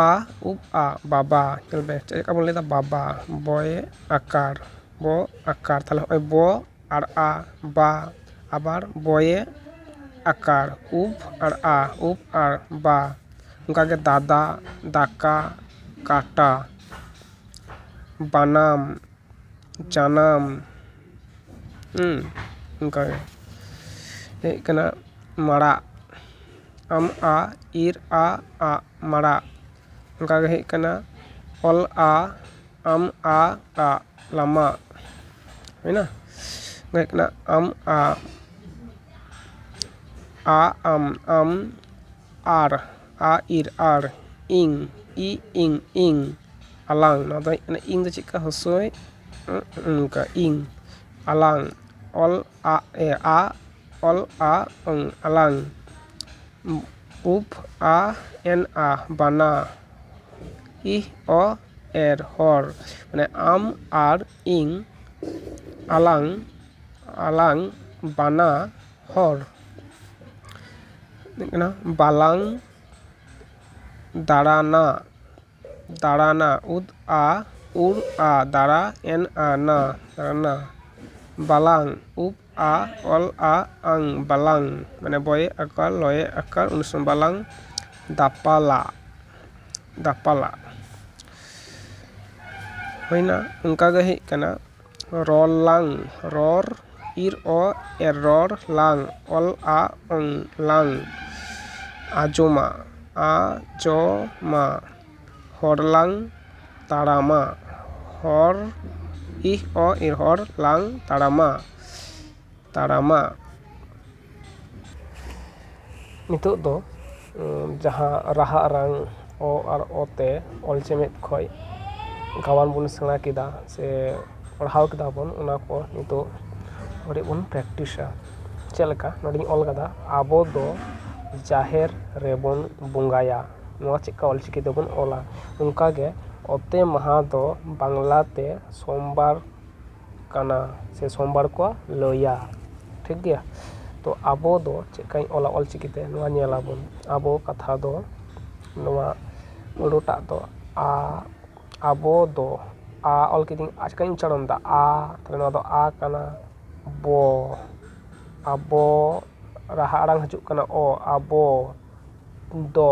ᱟ ᱩᱯ ᱟ ᱵᱟᱵᱟ ᱧᱮᱞ ᱢᱮ ᱪᱮᱫ ᱞᱮᱠᱟ ᱵᱚᱱ ᱞᱟᱹᱭᱫᱟ ᱵᱟᱵᱟ ᱵᱚᱭᱮ ᱟᱠᱟᱨ ᱵᱚ ᱟᱠᱟᱨ ᱛᱟᱦᱞᱮ ᱱᱚᱜᱼᱚᱭ ᱵᱚ ᱟᱲ ᱟ ᱵᱟ ᱟᱵᱟᱨ ᱵᱚᱭᱮ ᱟᱠᱟᱲ ᱩᱯ ᱟᱲ ᱟ ᱩᱯ ᱟᱲ ᱵᱟ ᱚᱱᱠᱟ ᱜᱮ ᱫᱟᱫᱟ ᱫᱟᱠᱟ ᱠᱟᱴᱟ ᱵᱟᱱᱟᱢ ᱡᱟᱱᱟᱢ ᱚᱱᱠᱟ ᱜᱮ ᱦᱮᱡ ᱠᱟᱱᱟ ᱢᱟᱲᱟᱜ ᱟᱢ ᱟ ᱤᱨ ᱟ ᱟᱜ ᱢᱟᱲᱟᱜ ᱚᱱᱠᱟ ᱜᱮ ᱦᱮᱡ ᱠᱟᱱᱟ ᱚᱞ ᱟ ᱟᱢ ᱟ ᱴᱟ ᱞᱟᱢᱟ ᱦᱩᱭᱱᱟ ᱚᱱᱟ ᱦᱩᱭᱩᱜ ᱠᱟᱱᱟ ᱟᱢ ᱟ ᱟ ᱟᱢ ᱟᱢ ᱟᱨ ᱟ ᱤᱨ ᱟᱲ ᱤᱝ ᱤ ᱤᱝ ᱤᱝ ᱟᱞᱟᱝ ᱱᱚᱣᱟ ᱫᱚ ᱦᱩᱭᱩᱜ ᱠᱟᱱᱟ ᱤᱝ ᱫᱚ ᱪᱮᱫᱠᱟ ᱦᱚᱥᱳᱭ ᱚᱱᱠᱟ ᱤᱝ ᱟᱞᱟᱝ ᱚᱞ ᱟᱜ ᱮ ᱟ ᱚᱞᱼᱟ ᱟᱞᱟᱝ ᱩᱯ ᱟ ᱮᱱ ᱟ ᱵᱟᱱᱟ ᱤ ᱚ ᱮᱨ ᱦᱚᱲ ᱢᱟᱱᱮ ᱟᱢ ᱟᱨ ᱤᱧ ᱟᱞᱟᱝ ᱟᱞᱟᱝ ᱵᱟᱱᱟ ᱦᱚᱲ ᱦᱩᱭᱩᱜ ᱠᱟᱱᱟ ᱵᱟᱞᱟᱝ ᱫᱟᱬᱟᱱᱟ ᱫᱟᱲᱟᱱᱟ ᱩᱫ ᱟ ᱩᱨ ᱟ ᱫᱟᱲᱟ ᱮᱱ ᱟ ᱱᱟ ᱨᱟᱱᱟ ᱵᱟᱞᱟᱝ ᱩᱵ ᱟ ᱚᱞ ᱟ ᱟᱝ ᱵᱟᱞᱟᱝ ᱢᱟᱱᱮ ᱵᱚᱭᱮ ᱟᱠᱟᱲ ᱞᱚᱭᱮ ᱟᱠᱟᱲ ᱩᱱ ᱥᱚᱢᱚᱭ ᱵᱟᱞᱟᱝ ᱫᱟᱯᱟᱞᱟ ᱫᱟᱯᱟᱞᱟ ᱦᱩᱭᱮᱱᱟ ᱚᱱᱠᱟ ᱜᱮ ᱦᱩᱭᱩᱜ ᱠᱟᱱᱟ ᱨᱚᱲ ᱞᱟᱝ ᱨᱚᱲ ᱤᱨ ᱚ ᱮ ᱨᱚᱲ ᱞᱟᱝ ᱚᱞ ᱟ ᱚᱝ ᱞᱟᱝ ᱟᱸᱡᱚᱢᱟ ᱟ ᱡᱚ ᱢᱟ ᱦᱚᱲ ᱞᱟᱝ ᱛᱟᱲᱟᱢᱟ ᱦᱚᱲ ᱤᱦ ᱚ ᱮ ᱦᱚᱲ ᱞᱟᱝ ᱛᱟᱲᱟᱢᱟ ᱛᱟᱲᱟᱢᱟ᱾ ᱱᱤᱛᱚᱜ ᱫᱚ ᱡᱟᱦᱟᱸ ᱨᱟᱦᱟ ᱟᱨᱟᱝ ᱚ ᱟᱨ ᱚ ᱛᱮ ᱚᱞ ᱪᱮᱢᱮᱫ ᱠᱷᱚᱡ ᱜᱟᱣᱟᱱ ᱵᱚᱱ ᱥᱮᱬᱟ ᱠᱮᱫᱟ ᱥᱮ ᱯᱟᱲᱦᱟᱣ ᱠᱮᱫᱟ ᱵᱚᱱ ᱚᱱᱟ ᱠᱚ ᱱᱤᱛᱚᱜ ᱠᱟᱹᱴᱤᱡ ᱵᱚᱱ ᱯᱨᱮᱠᱴᱤᱥᱟ᱾ ᱪᱮᱫ ᱞᱮᱠᱟ ᱱᱚᱰᱮᱧ ᱚᱞ ᱟᱠᱟᱫᱟ ᱟᱵᱚ ᱫᱚ ᱡᱟᱦᱮᱨ ᱨᱮᱵᱚᱱ ᱵᱚᱸᱜᱟᱭᱟ᱾ ᱱᱚᱣᱟ ᱪᱮᱫ ᱞᱮᱠᱟ ᱚᱞ ᱪᱤᱠᱤ ᱛᱮᱵᱚᱱ ᱚᱞᱟ᱾ ᱚᱱᱠᱟ ᱜᱮ ᱚᱛᱮ ᱢᱟᱦᱟᱸ ᱫᱚ ᱵᱟᱝᱞᱟ ᱛᱮ ᱥᱚᱢᱵᱟᱨ᱾ ᱠᱟᱱᱟ ᱥᱮ ᱥᱚᱢᱵᱟᱨ ᱠᱚ ᱞᱟᱹᱭᱟ ᱴᱷᱤᱠ ᱜᱮᱭᱟ ᱛᱚ ᱟᱵᱚ ᱫᱚ ᱪᱮᱫ ᱞᱮᱠᱟᱧ ᱚᱞᱟ ᱚᱞ ᱪᱤᱠᱤ ᱛᱮ ᱱᱚᱣᱟ ᱧᱮᱞ ᱟᱵᱚᱱ ᱟᱵᱚ ᱠᱟᱛᱷᱟ ᱫᱚ ᱱᱚᱣᱟ ᱯᱩᱨᱟᱹ ᱴᱟᱜ ᱫᱚ ᱟ ᱟᱵᱚ ᱫᱚ ᱟ ᱚᱞ ᱠᱤᱫᱟᱹᱧ ᱟᱨ ᱪᱤᱠᱟᱹᱧ ᱩᱪᱪᱟᱨᱚᱱ ᱫᱟ ᱟ ᱛᱟᱦᱞᱮ ᱱᱚᱣᱟ ᱫᱚ ᱟ ᱠᱟᱱᱟ ᱵᱚ ᱟᱵᱚ ᱨᱟᱦᱟ ᱟᱲᱟᱝ ᱦᱤᱡᱩᱜ ᱠᱟᱱᱟ ᱚ ᱟᱵᱚ ᱫᱚ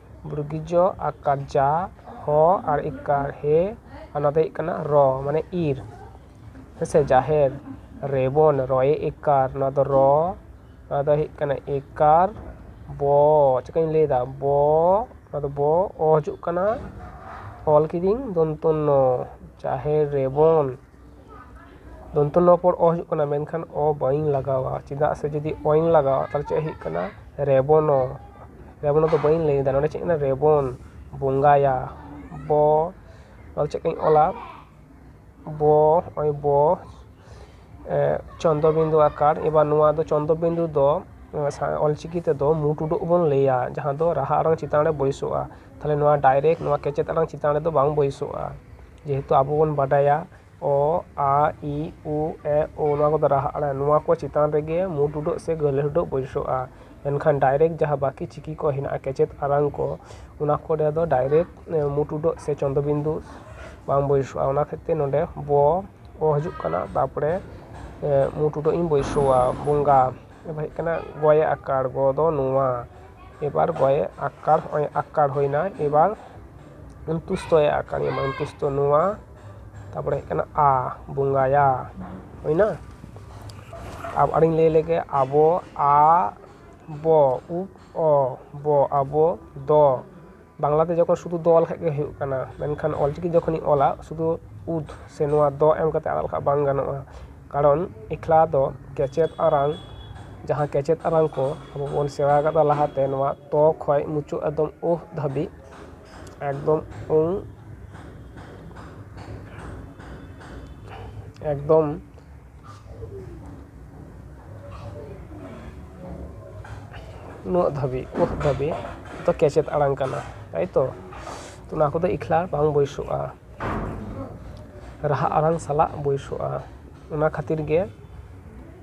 ᱵᱨᱩᱜᱤᱡᱚ ᱟᱠᱟᱨ ᱡᱟ ᱦᱚ ᱟᱨ ᱤᱠᱟᱨ ᱦᱮ ᱚᱱᱟ ᱫᱚ ᱦᱩᱭᱩᱜ ᱠᱟᱱᱟ ᱨᱚ ᱢᱟᱱᱮ ᱤᱨ ᱦᱮᱸ ᱥᱮ ᱡᱟᱦᱮᱨ ᱨᱮᱵᱚᱱ ᱨᱚᱭᱮ ᱤᱠᱟᱨ ᱱᱚᱣᱟ ᱫᱚ ᱨᱚ ᱱᱚᱣᱟ ᱫᱚ ᱦᱩᱭᱩᱜ ᱠᱟᱱᱟ ᱤᱠᱟᱨ ᱵᱚ ᱪᱤᱠᱟᱹᱧ ᱞᱟᱹᱭᱫᱟ ᱵᱚ ᱱᱚᱣᱟ ᱫᱚ ᱵᱚ ᱚ ᱦᱤᱡᱩᱜ ᱠᱟᱱᱟ ᱚᱞ ᱠᱤᱫᱟᱹᱧ ᱫᱚᱱᱛᱚ ᱱᱚ ᱡᱟᱦᱮᱨ ᱨᱮᱵᱚᱱ ᱫᱚᱱᱛᱚ ᱱᱚ ᱯᱚᱨ ᱚ ᱦᱤᱡᱩᱜ ᱠᱟᱱᱟ ᱢᱮᱱᱠᱷᱟᱱ ᱚ ᱵᱟᱹᱧ ᱞᱟᱜᱟᱣᱟ ᱪᱮᱫᱟᱜ ᱥᱮ ᱡᱩᱫᱤ ᱚ ᱤᱧ ᱞᱟᱜᱟᱣᱟ ᱛᱟᱦᱚᱞᱮ ᱪᱮᱫ ᱦᱩᱭᱩᱜ ᱠᱟᱱᱟ ᱨᱮᱵᱚ ᱱᱚ ᱨᱮᱵᱚ ᱱᱚ ᱫᱚ ᱵᱟᱹᱧ ᱞᱟᱹᱭ ᱮᱫᱟ ᱱᱚᱰᱮ ᱪᱮᱫ ᱢᱮᱱᱟᱜᱼᱟ ᱨᱮᱵᱚᱱ ᱵᱚᱸᱜᱟᱭᱟ ᱵᱚ ᱟᱫᱚ ᱪᱮᱫ ᱠᱚᱧ ᱚᱞᱟ ᱵᱚ ᱱᱚᱜᱼᱚᱭ ᱵᱚ ᱪᱚᱱᱫᱨᱚ ᱵᱤᱱᱫᱩ ᱟᱠᱟᱨ ᱮᱵᱟᱨ ᱱᱚᱣᱟ ᱫᱚ ᱪᱚᱱᱫᱨᱚ ᱵᱤᱱᱫᱩ ᱫᱚ ᱚᱞ ᱪᱤᱠᱤ ᱛᱮᱫᱚ ᱢᱩ ᱴᱩᱰᱟᱹᱜ ᱵᱚᱱ ᱞᱟᱹᱭᱟ ᱡᱟᱦᱟᱸ ᱫᱚ ᱨᱟᱦᱟ ᱟᱲᱟᱝ ᱪᱮᱛᱟᱱ ᱨᱮ ᱵᱟᱹᱭᱥᱟᱹᱜᱼᱟ ᱛᱟᱦᱚᱞᱮ ᱱᱚᱣᱟ ᱰᱟᱭᱨᱮᱠᱴ ᱱᱚᱣᱟ ᱠᱮᱪᱮᱫ ᱟᱲᱟᱝ ᱪᱮᱛᱟᱱ ᱨᱮᱫᱚ ᱵᱟᱝ ᱵᱟᱹᱭᱥᱟᱹᱜᱼᱟ ᱡᱮᱦᱮᱛᱩ ᱟᱵᱚ ᱵᱚᱱ ᱵᱟᱰᱟᱭᱟ ᱚ ᱟ ᱤ ᱩ ᱮ ᱳ ᱱᱚᱣᱟ ᱠᱚᱫᱚ ᱨᱟᱦᱟ ᱟᱲᱟᱝ ᱱᱚᱣᱟ ᱠᱚ ᱪᱮᱛᱟᱱ ᱨᱮᱜᱮ ᱢᱩ ᱴᱩᱰᱟᱹᱜ ᱥᱮ ᱜᱟᱹᱦᱞᱟᱹ ᱴᱩᱰᱟᱹᱜ ᱵᱟᱹᱭᱥᱟᱹᱜᱼᱟ ᱢᱮᱱᱠᱷᱟᱱ ᱰᱟᱭᱨᱮᱠᱴ ᱡᱟᱦᱟᱸ ᱵᱟᱹᱠᱤ ᱪᱤᱠᱤ ᱠᱚ ᱦᱮᱱᱟᱜᱼᱟ ᱠᱮᱪᱮᱫ ᱟᱲᱟᱝ ᱠᱚ ᱚᱱᱟ ᱠᱚᱨᱮ ᱫᱚ ᱰᱟᱭᱨᱮᱠᱴ ᱢᱩ ᱴᱩᱰᱟᱹᱜ ᱥᱮ ᱪᱚᱱᱫᱚ ᱵᱤᱱᱫᱩ ᱵᱟᱝ ᱵᱟᱹᱭᱥᱟᱹᱜᱼᱟ ᱚᱱᱟ ᱠᱷᱟᱹᱛᱤᱨ ᱛᱮ ᱱᱚᱸᱰᱮ ᱵᱚ ᱚ ᱦᱤᱡᱩᱜ ᱠᱟᱱᱟ ᱛᱟᱨᱯᱚᱨᱮ ᱢᱩ ᱴᱩᱰᱟᱹᱜ ᱤᱧ ᱵᱟᱹᱭᱥᱟᱹᱣᱟ ᱵᱚᱸᱜᱟ ᱮᱵᱟᱨ ᱦᱮᱡ ᱠᱟᱱᱟ ᱜᱚᱭᱮ ᱟᱠᱟᱲ ᱜᱚ ᱫᱚ ᱱᱚᱣᱟ ᱮᱵᱟᱨ ᱜᱚᱭᱮ ᱟᱠᱟᱲ ᱦᱚᱸᱜᱼᱚᱭ ᱟᱠᱟᱲ ᱦᱩᱭᱱᱟ ᱮᱵᱟᱨ ᱚᱱᱛᱩᱥᱛᱚᱭ ᱟᱠᱟᱨ ᱮᱢᱟ ᱚᱱᱛᱩᱥᱛᱚ ᱱᱚᱣᱟ ᱛᱟᱨᱯᱚᱨᱮ ᱦᱮᱡ ᱠᱟᱱᱟ ᱟ ᱵᱚᱸᱜᱟᱭᱟ ᱦᱩᱭᱱᱟ ᱟᱨ ᱟᱨᱚᱧ ᱞᱟᱹᱭ ᱞᱮᱜᱮ ᱟᱵᱚ ᱟ ᱵᱚ ᱩᱵ ᱚ ᱵᱚ ᱟᱵᱚ ᱫᱚ ᱵᱟᱝᱞᱟ ᱛᱮ ᱡᱚᱠᱷᱚᱱ ᱥᱩᱫᱷᱩ ᱫᱚ ᱚᱞ ᱞᱮᱠᱷᱟᱱ ᱜᱮ ᱦᱩᱭᱩᱜ ᱠᱟᱱᱟ ᱢᱮᱱᱠᱷᱟᱱ ᱚᱞ ᱪᱤᱠᱤ ᱡᱚᱠᱷᱚᱱᱤᱧ ᱚᱞᱟ ᱥᱩᱫᱷᱩ ᱩᱫ ᱥᱮ ᱱᱚᱣᱟ ᱫᱚ ᱮᱢ ᱠᱟᱛᱮᱫ ᱟᱲᱟᱜ ᱞᱮᱠᱷᱟᱱ ᱵᱟᱝ ᱜᱟᱱᱚᱜᱼᱟ ᱠᱟᱨᱚᱱ ᱮᱠᱞᱟ ᱫᱚ ᱠᱮᱪᱮᱫ ᱟᱲᱟᱝ ᱡᱟᱦᱟᱸ ᱠᱮᱪᱮᱫ ᱟᱲᱟᱝ ᱠᱚ ᱟᱵᱚ ᱵᱚᱱ ᱥᱮᱬᱟ ᱟᱠᱟᱫᱟ ᱞᱟᱦᱟᱛᱮ ᱱᱚᱣᱟ ᱛᱚ ᱠᱷᱚᱱ ᱢᱩᱪᱟᱹᱫ ᱮᱠᱫᱚᱢ ᱩᱦ ᱫᱷᱟᱹᱵᱤᱡ ᱮᱠᱫᱚᱢ ᱮᱠᱫᱚᱢ ᱩᱱᱟᱹᱜ ᱫᱷᱟᱹᱵᱤᱡ ᱩᱱᱟᱹᱜ ᱫᱷᱟᱹᱵᱤᱡ ᱫᱚ ᱠᱮᱪᱮᱫ ᱟᱲᱟᱝ ᱠᱟᱱᱟ ᱛᱟᱭᱛᱚ ᱚᱱᱟ ᱠᱚᱫᱚ ᱮᱠᱞᱟ ᱵᱟᱝ ᱵᱟᱹᱭᱥᱟᱹᱜᱼᱟ ᱨᱟᱦᱟ ᱟᱲᱟᱝ ᱥᱟᱞᱟᱜ ᱵᱟᱹᱭᱥᱟᱹᱜᱼᱟ ᱚᱱᱟ ᱠᱷᱟᱹᱛᱤᱨ ᱜᱮ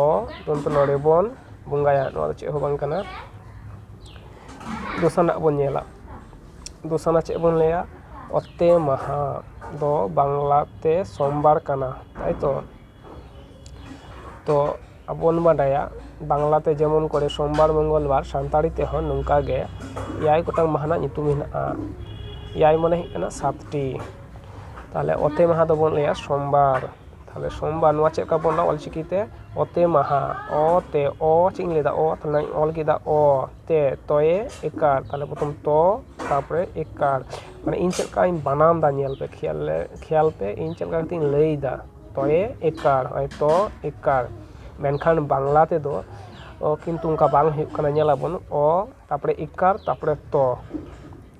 ᱚ ᱠᱤᱱᱛᱩ ᱱᱚᱰᱮ ᱵᱚᱱ ᱵᱚᱸᱜᱟᱭᱟ ᱱᱚᱣᱟ ᱫᱚ ᱪᱮᱫ ᱦᱚᱸ ᱵᱟᱝ ᱠᱟᱱᱟ ᱫᱚᱥᱟᱨ ᱨᱮᱱᱟᱜ ᱵᱚᱱ ᱧᱮᱞᱟ ᱫᱚᱥᱟᱨ ᱨᱮᱱᱟᱜ ᱪᱮᱫ ᱵᱚᱱ ᱞᱟᱹᱭᱟ ᱚᱛᱮ ᱢᱟᱦᱟ ᱫᱚ ᱵᱟᱝᱞᱟ ᱛᱮ ᱥᱳᱢᱵᱟᱨ ᱠᱟᱱᱟ ᱛᱟᱭᱛᱚ ᱛᱚ ᱟᱵᱚ ᱵᱚᱱ ᱵᱟᱰᱟᱭᱟ ᱵᱟᱝᱞᱟ ᱛᱮ ᱡᱮᱢᱚᱱ ᱠᱚᱨᱮ ᱥᱳᱢᱵᱟᱨ ᱢᱚᱝᱜᱚᱞ ᱵᱟᱨ ᱥᱟᱱᱛᱟᱲᱤ ᱛᱮᱦᱚᱸ ᱱᱚᱝᱠᱟ ᱜᱮ ᱮᱭᱟᱭ ᱜᱚᱴᱟᱝ ᱢᱟᱦᱟ ᱨᱮᱱᱟᱜ ᱧᱩᱛᱩᱢ ᱢᱮᱱᱟᱜᱼᱟ ᱮᱭᱟᱭ ᱢᱟᱱᱮ ᱦᱩᱭᱩᱜ ᱠᱟᱱᱟ ᱥᱟᱛᱴᱤ ᱛᱟᱦᱞᱮ ᱚᱛᱮ ᱢᱟᱦᱟ ᱫᱚᱵᱚᱱ ᱞᱟᱹᱭᱟ ᱥᱳᱢᱵᱟᱨ ᱛᱟᱦᱚᱞᱮ ᱥᱳᱢᱵᱟᱨ ᱱᱚᱣᱟ ᱪᱮᱫ ᱞᱮᱠᱟ ᱵᱚᱱ ᱚᱞᱟ ᱚᱞ ᱪᱤᱠᱤ ᱛᱮ ᱚᱛᱮ ᱢᱟᱦᱟ ᱚ ᱛᱮ ᱚ ᱪᱮᱫ ᱤᱧ ᱞᱟᱹᱭᱫᱟ ᱚ ᱛᱟᱦᱚᱞᱮᱧ ᱚᱞ ᱠᱮᱫᱟ ᱚ ᱛᱮ ᱛᱚᱭᱮ ᱮᱠᱟᱨ ᱛᱟᱦᱚᱞᱮ ᱯᱨᱚᱛᱷᱚᱢ ᱛᱚ ᱛᱟᱨᱯᱚᱨᱮ ᱮᱠᱟᱨ ᱢᱟᱱᱮ ᱤᱧ ᱪᱮᱫ ᱞᱮᱠᱟᱧ ᱵᱟᱱᱟᱢ ᱫᱟ ᱧᱮᱞ ᱯᱮ ᱠᱷᱮᱭᱟᱞ ᱞᱮ ᱠᱷᱮᱭᱟᱞ ᱯᱮ ᱤᱧ ᱪᱮᱫ ᱞᱮᱠᱟ ᱠᱟᱛᱮᱧ ᱞᱟᱹᱭᱫᱟ ᱛᱚᱭᱮ ᱮᱠᱟᱨ ᱱᱚᱜᱼᱚᱭ ᱛᱚ ᱮᱠᱟᱨ ᱢᱮᱱᱠᱷᱟᱱ ᱵᱟᱝᱞᱟ ᱛᱮᱫᱚ ᱚ ᱠᱤᱱᱛᱩ ᱚᱱᱠᱟ ᱵᱟᱝ ᱦᱩᱭᱩᱜ ᱠᱟᱱᱟ ᱧᱮᱞᱟᱵᱚᱱ ᱚ ᱛᱟᱨᱯᱚᱨᱮ ᱮᱠᱟᱨ ᱛᱟᱨᱯᱚᱨᱮ ᱛᱚ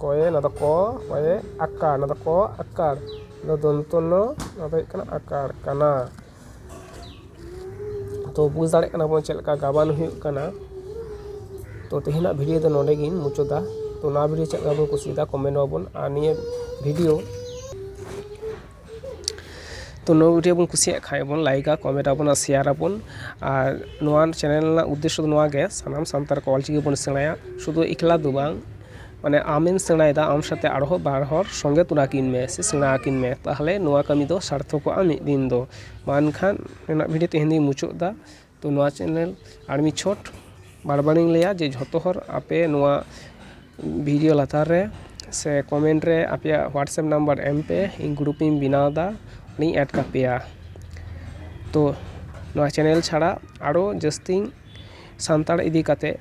ᱠᱚᱭᱮ ᱱᱚᱣᱟ ᱫᱚ ᱠᱚ ᱠᱚᱭᱮ ᱟᱠᱟᱲ ᱱᱚᱣᱟ ᱫᱚ ᱠᱚ ᱟᱠᱟᱲ ᱱᱚᱣᱟ ᱫᱚ ᱫᱚᱱᱛᱚ ᱱᱚ ᱱᱚᱣᱟ ᱫᱚ ᱦᱩᱭᱩᱜ ᱠᱟᱱᱟ ᱟᱠᱟᱲ ᱠᱟᱱᱟ ᱛᱚ ᱵᱩᱡᱽ ᱫᱟᱲᱮᱜ ᱠᱟᱱᱟ ᱵᱚᱱ ᱪᱮᱫ ᱞᱮᱠᱟ ᱜᱟᱵᱟᱱ ᱦᱩᱭᱩᱜ ᱠᱟᱱᱟ ᱛᱚ ᱛᱮᱦᱮᱧᱟᱜ ᱵᱷᱤᱰᱭᱳ ᱫᱚ ᱱᱚᱰᱮ ᱜᱤᱧ ᱢᱩᱪᱟᱹᱫᱟ ᱛᱚ ᱱᱚᱣᱟ ᱵᱷᱤᱰᱭᱳ ᱪᱮᱫ ᱞᱮᱠᱟ ᱵᱚᱱ ᱠᱩᱥᱤᱭᱟᱫᱟ ᱠᱚᱢᱮᱱᱴ ᱟᱵᱚᱱ ᱟᱨ ᱱᱤᱭᱟᱹ ᱵᱷᱤᱰᱭᱳ ᱛᱚ ᱱᱚᱣᱟ ᱵᱷᱤᱰᱭᱳ ᱵᱚᱱ ᱠᱩᱥᱤᱭᱟᱜ ᱠᱷᱟᱱ ᱵᱚᱱ ᱞᱟᱭᱤᱠᱟ ᱠᱚᱢᱮᱱᱴᱟᱵᱚᱱ ᱟᱨ ᱥᱮᱭᱟᱨᱟᱵᱚᱱ ᱟᱨ ᱱᱚᱣᱟ ᱪᱮᱱᱮᱞ ᱨᱮᱱᱟᱜ ᱩᱫᱽᱫᱮᱥᱥᱚ ᱫᱚ ᱱᱚᱣᱟ ᱜᱮ ᱥᱟᱱᱟᱢ ᱥᱟᱱᱛᱟᱲ ᱠᱚ ᱚᱞ ᱪᱤᱠᱤ ᱵᱚᱱ ᱥᱮᱬᱟᱭᱟ ᱥᱩᱫᱩ ᱮᱠᱞᱟ ᱫᱚ ᱵᱟᱝ ᱢᱟᱱᱮ ᱟᱢᱮᱢ ᱥᱮᱬᱟᱭᱮᱫᱟ ᱟᱢ ᱥᱟᱛᱮ ᱟᱨᱦᱚᱸ ᱵᱟᱨ ᱦᱚᱲ ᱥᱚᱸᱜᱮ ᱛᱚᱨᱟ ᱠᱤᱱ ᱢᱮ ᱥᱮ ᱥᱮᱬᱟ ᱟᱹᱠᱤᱱ ᱢᱮ ᱛᱟᱦᱚᱞᱮ ᱱᱚᱣᱟ ᱠᱟᱹᱢᱤ ᱫᱚ ᱥᱟᱨᱛᱷᱚᱠᱚᱜᱼᱟ ᱢᱤᱫ ᱫᱤᱱ ᱫᱚ ᱢᱟ ᱮᱱᱠᱷᱟᱱ ᱱᱤᱱᱟᱹᱜ ᱜᱷᱟᱹᱲᱤᱡ ᱛᱮᱦᱮᱧ ᱫᱚᱧ ᱢᱩᱪᱟᱹᱫ ᱮᱫᱟ ᱛᱚ ᱱᱚᱣᱟ ᱪᱮᱱᱮᱞ ᱟᱨ ᱢᱤᱫ ᱪᱷᱚᱴ ᱵᱟᱨ ᱵᱟᱨ ᱤᱧ ᱞᱟᱹᱭᱟ ᱡᱮ ᱡᱷᱚᱛᱚ ᱦᱚᱲ ᱟᱯᱮ ᱱᱚᱣᱟ ᱵᱷᱤᱰᱤᱭᱳ ᱞᱟᱛᱟᱨ ᱨᱮ ᱥᱮ ᱠᱚᱢᱮᱱᱴ ᱨᱮ ᱟᱯᱮᱭᱟᱜ ᱦᱳᱣᱟᱴᱥᱮᱯ ᱱᱟᱢᱵᱟᱨ ᱮᱢ ᱯᱮ ᱤᱧ ᱜᱨᱩᱯ ᱤᱧ ᱵᱮᱱᱟᱣ ᱮᱫᱟ ᱚᱸᱰᱮᱧ ᱮᱰ ᱠᱟᱯᱮᱭᱟ ᱛᱚ ᱱᱚᱣᱟ ᱪᱮᱱᱮᱞ ᱪᱷᱟᱲᱟ ᱟᱨᱚ ᱡᱟᱹᱥᱛᱤ ᱥᱟᱱᱛᱟᱲ ᱤᱫᱤ ᱠᱟᱛᱮᱫ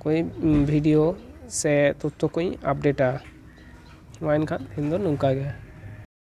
ᱠᱚᱭᱮᱠ ᱵᱷᱤᱰᱤᱭᱳ ᱥᱮ ᱛᱚᱛᱛᱷᱚ ᱠᱚᱧ ᱟᱯᱰᱮᱴᱟ ᱢᱟ ᱮᱱᱠᱷᱟᱱ ᱛᱮᱦᱮᱧ ᱫᱚ ᱱᱚᱝᱠᱟ ᱜᱮ